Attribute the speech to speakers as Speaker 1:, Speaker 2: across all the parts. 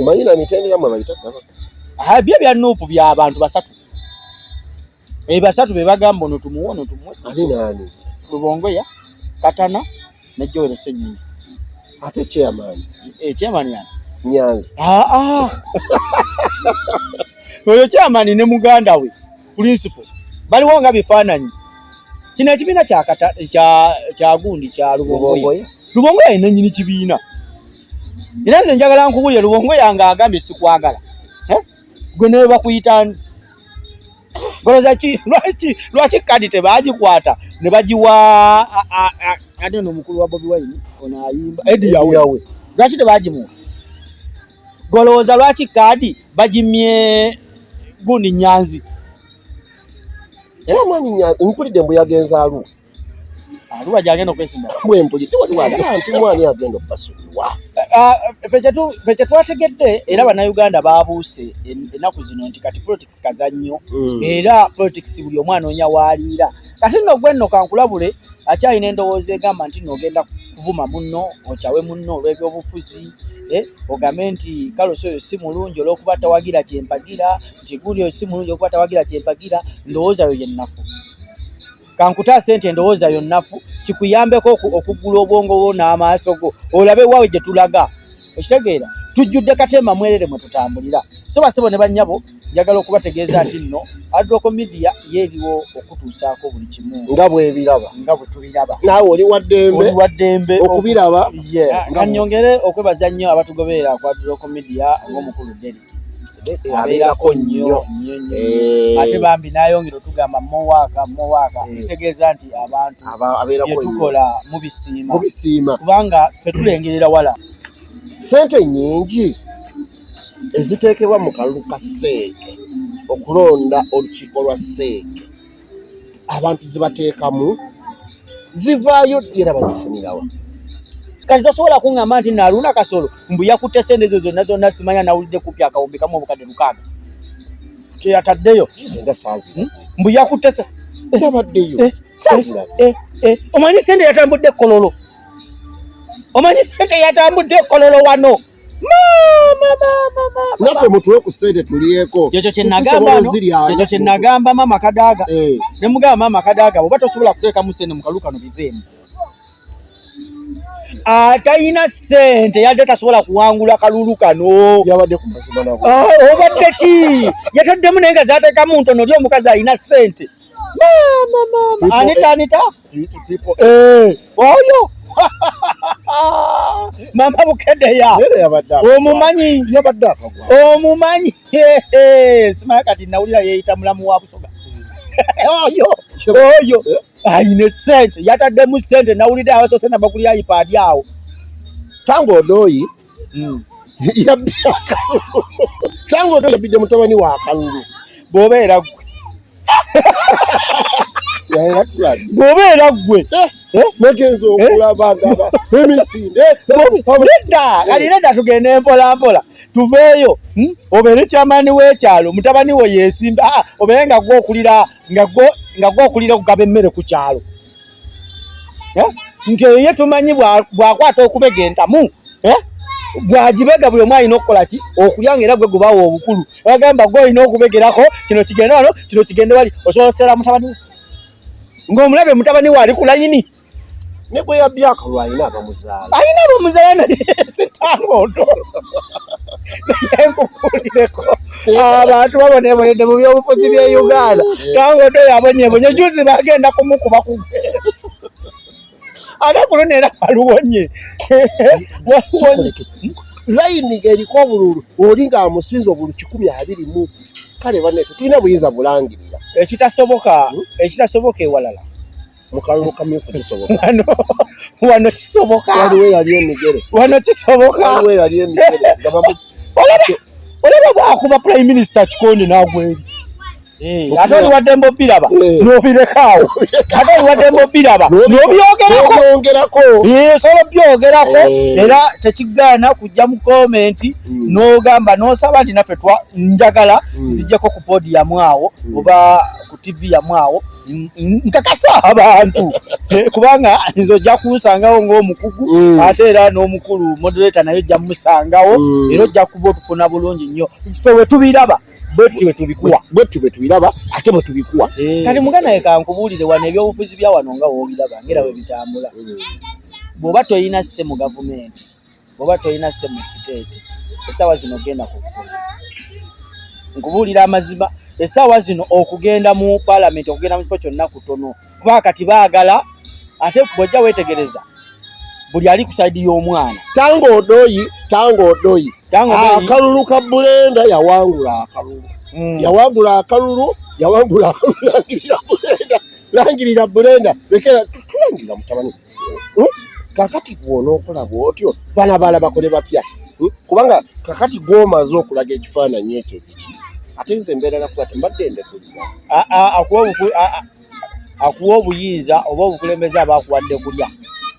Speaker 1: Mayina mitendera mwe bayita gaba. Ah bye bya
Speaker 2: nupu bya abantu basatu. Eh basatu be bagamba ono tumuwe ono tumuwe. Ani nani?
Speaker 1: Lubongo ya
Speaker 2: Katana ne Joel Senyinyi. Ate
Speaker 1: chairman. Eh chairman ya.
Speaker 2: Nyanzi. Ah
Speaker 1: ah.
Speaker 2: Oyo chairman ne muganda we principal. Bali wonga bifananyi. kino ekibiina kyagundi kya lubongoye lubongoye alina nyini kibiina era nze njagala nkubulire lubongoye anga agambye sikwagala eh? gwe nawe bakuyita goloza ki lwaki lwaki kadi tebagikwata ne bagiwa ate no mukulu wa bobi wine ono ayimba edi yawe lwaki tebagimuwa golowooza lwaki kadi bagimye gundi nyanzi era
Speaker 1: mani mpulidde mbu yagenze alu aluwa
Speaker 2: gyagenda okwesimba mwe mpulidde waliwo
Speaker 1: agamba nti mwani agenda okubasonyiwa ah,
Speaker 2: fe kyetwategedde era bannayuganda babuuse ennaku zino nti kati politics kazannyo hmm. era politics buli omwana onya waaliira kati nno gwenno kankulabule akyalina endowooza egamba nti noogenda kuvuma munno okyawe munno olw'ebyobufuzi eh, ogambe nti kalosi oyo si mulungi olwokuba tawagira kyempagira nti guli oyo si mulungi olwokuba tawagira kyempagira ndowooza yo yennafu kankutaase nti endowooza yo nnafu kikuyambeko okuggula obwongo bwo n'amaaso go olabe waawe gye tulaga okitegeera tujjudde katemba mwerere mwe tutambulira so basebo ne bannyabo njagala okubategeeza nti nno adroko media yeeriwo okutuusaako buli kimu nga bwebiraba nga
Speaker 1: bwetubiraba
Speaker 2: naawe oli waddembe
Speaker 1: wa ddembe okubiraba nga nyongere
Speaker 2: okwebaza nnyo abatugoberera ku adroko media ng'omukulu deri abeerako nnyo eh. ate bambi nayongera otugamba mowaka mowaka eh. ekitegeeza nti abantu byetukola mubisiima kubanga fetulengerera wala Sente
Speaker 1: nyingi eziteekebwa mu kalulu ka seeke okulonda olukiiko lwa seeke abantu zibateekamu zivaayo era bazifunirawa kati
Speaker 2: tosobola kuŋŋamba nti naluna kasolo mbu yakutte sente ezo zonna zonna simanya nawulidde kupi akawumbi kamu obukadde lukaaga keyataddeyo hmm? mbu yakutte era baddeyo
Speaker 1: eh, eh,
Speaker 2: eh, omanyi sente yatambudde kololo omanyi sente yatambudde ekololo wano
Speaker 1: naffe mutuwe ku sente tulyeko kyekyo kyenagambakyo
Speaker 2: kyenagamba maama kadaaga eh. ne mugamba maama kadaaga oba tosobola kuteekamu sente mukalu kano biveemu atalina ah, sente yadde tasobola kuwangula kalulu kano ah,
Speaker 1: obadde ki
Speaker 2: yataddemu naye nga zatekamu ntono ly omukazi alina sente anita anita Eh, oyo mama bukedeya omumanyi omumanyi simaya kati nawulira yeyita mulamu wa busoga oyo oyo ayine sente yataddemu sente nawulidde abasose nabakulya ipaadi awo tangu
Speaker 1: odoyi hmm. yabbye akalulu tangu odoyi yabbidde mutabani wa akalulu bwobeera gwe
Speaker 2: bwobeera ggwe eh, eh? nagenza
Speaker 1: eh? okulaba ndaba emisinde nedda
Speaker 2: kati nedda tugende mpolampola tuveeyo hmm? obeere kyamaani w'ekyalo mutabani wo yeesimba ah, obeere nga gwe okulira nga gwe okulira okugaba emmere ku kyalo nti eyo ye tumanyi bwakwata okubega entamu bwagibega buli omu alina okukola ki okuyanga era gwe gubaawo obukulu wagamba gwe olina okubegerako kino kigende wano kino kigende wali osobola okusera mutabani we ng'omulabe mutabani we ali ku layini
Speaker 1: alina abamuzaala
Speaker 2: naye sitangondo naye nkukulireko abantu babonebonedde mu byobufuzi bye uganda tangondo yabonyebonye juzi bagenda kumukuba kugera ate kuno neera aluwonye
Speaker 1: layini eriko obululu oli nga amusinza obulu kikumi abiri mu kale bane tetulina buyinza bulangirira ekitasoboka hmm?
Speaker 2: ekitasoboka ewalala mukalulu
Speaker 1: kamyufu kisoboka wano
Speaker 2: kisoboka waliwo eyali emigere
Speaker 1: wano kisoboka waliwo eyali emigere
Speaker 2: olaba bwakuba prime minister kikondi nagweri Eh, ate oliwadde mba obiraba eh. nobirekaawo ate oliwadde mba obiraba nobyogerakoyongerako eh, sobola byogerako era tekigaana kujja mu komenti hmm. nogamba nosaba nti naffe njagala hmm. zijjeko ku boodi yamu awo hmm. oba ku tv yamu awo nkakasa abantu kubanga nze ojja kunsangawo ngaomukugu ate era n'omukulu moderator naye ojja musangawo era ojja kuba otufuna bulungi nnyo fe wetubiraba bwetu bwetubikuwa bwetu bwetubiraba
Speaker 1: ate bwetubikuwa eh. kati muganda ye
Speaker 2: kankubuulire wano ebyobufuzi bya wano nga wobiraba ngera webitambula mm. bwoba tolina sse mu gavumenti bwoba tolina sse mu siteeti esaawa zino genda kukukulu nkubuulira amazima esaawa zino okugenda mu palamenti okugenda mu kifo kyonna kutono kuba kati baagala ate bwojja wetegereza buli ali ku saidi y'omwana tanga odoyi
Speaker 1: tanga odoyi akalulu ka bulenda yawangula akalulu mm. yawangula akalulu yawangula akalulu langirira bulenda langirira bulenda lekera tulangirira mutabani hmm? kakati gwonookola bwotyo bana baala bakole batya hmm? kubanga kakati gwomaze okulaga ekifaananyi ekyo ate nze embeera nakuba tembadde ndekulira
Speaker 2: akuwa obuyinza oba obukulembeze aba akuwadde kulya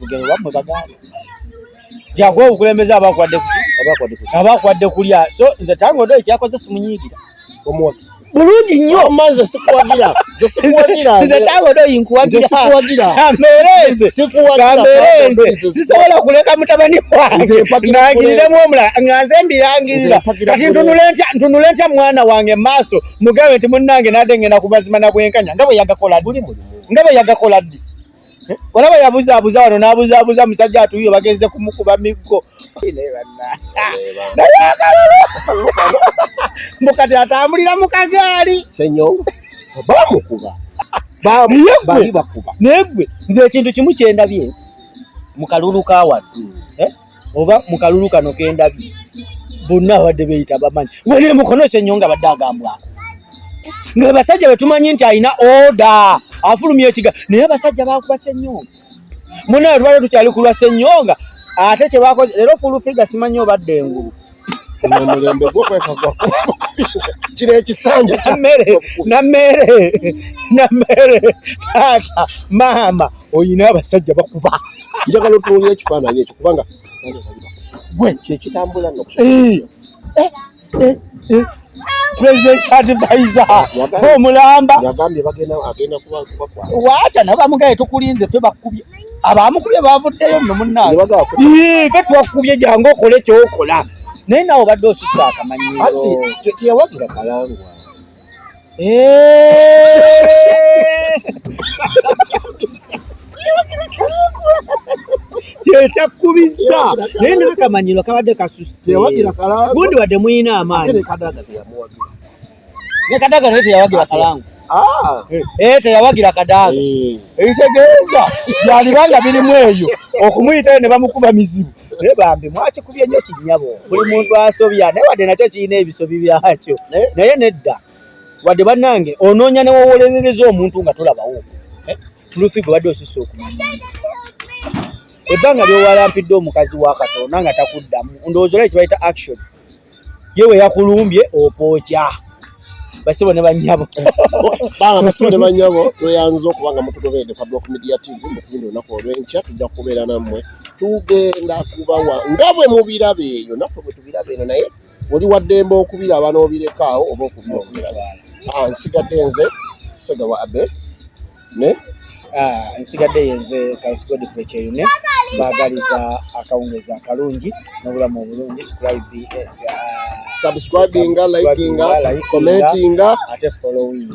Speaker 2: lugero lwammwe bagamba jakuwa obukulembeze aba akuwadde kulya aba akuwadde kulya so nze tangodo ekyakoze simunyiigira omuwaki
Speaker 1: bulungi nnyo
Speaker 2: maze sikuwagira
Speaker 1: nze
Speaker 2: tabodo yinkuwagiraambeereze sisobola kuleka mutabani wange nangiriremu omulala nga nze mbirangirira kati ntunule ntya mwana wange maaso mugambe nti munnange nadde ngenda kubazima na bwenkanya nga bwe yagakola ddi nga bwe yagakola ddi Olaba yabuzaabuza wano n'abuzaabuza musajja atuuyo bagenze kumukuba miggo naye akalulu mbu kati atambulira mu kagaali
Speaker 1: bamukuba naye gwe
Speaker 2: nze ekintu kimu kyendabye mu kalulu ka wano hmm. eh? oba mu kalulu kano kendabye bonna abadde beyita bamanyi wene mukono esenyo nga badde agambwako nga abasajja betumanyi nti alina oda afulumya ekiga naye abasajja bakuba senyonga munaye tubadde tukyali kulwa senyonga ate kyebakoze leero fulufiga simanyi obadde engulu omulembe
Speaker 1: gwo kwekagwa kino ekisanja namere namere
Speaker 2: namere taata maama oyina abasajja bakuba njagala otunulia
Speaker 1: ekifaananyi ekyo kubanga gwe kyekitambula no eh, eh, eh,
Speaker 2: eh. president's advisor omulamba
Speaker 1: waacha nabo bamugaye
Speaker 2: tukulinze ffe bakubye abamukubye bavuddeyo nno munnaye fe twakubye jangu okole kyokola naye nawe obadde osusa akamanyiroteyawagira
Speaker 1: kalangwa eh.
Speaker 2: kyekyakubizza naye nakamanyiro kabadde kasusse gundi wadde muyina amaanyi ne kadaga naye teyawagira kalangu Ah. Eh, eh, teyawagira kadaaga eh. ebitegeeza byaliba nga birimu eyo okumuyitayo ne bamukuba mizibu naye bambi mwakikubye nnyo kinyabo buli muntu asobya naye wadde nakyo kirina ebisobi byakyo naye nedda wadde bannange onoonya newowolerereza omuntu nga tolabawo tulufi gwe badde osusa okumanya ebbanga lyowalampidde omukazi wa katonda nga takuddamu ndowooza olai kibayita action ye we yakulumbye opookya basibo ne banyabo banga basibo
Speaker 1: ne banyabo tweyanza okuba nga mutugoberedde kwa block media tv mukugenda olunaku olwenkya tujja kubeera nammwe tugenda kubawa nga bwe mubiraba eyo naffe bwe tubiraba eno naye oli waddembe okubiraba n'obirekaawo oba okubyongera Ah, nsigadde nze sega wa abe ne ah, nsigadde yenze kansi godfrey kyeyune bagaliza akawungezi akalungi n'obulamu obulungi subscribinga likinga commentinga ate followinga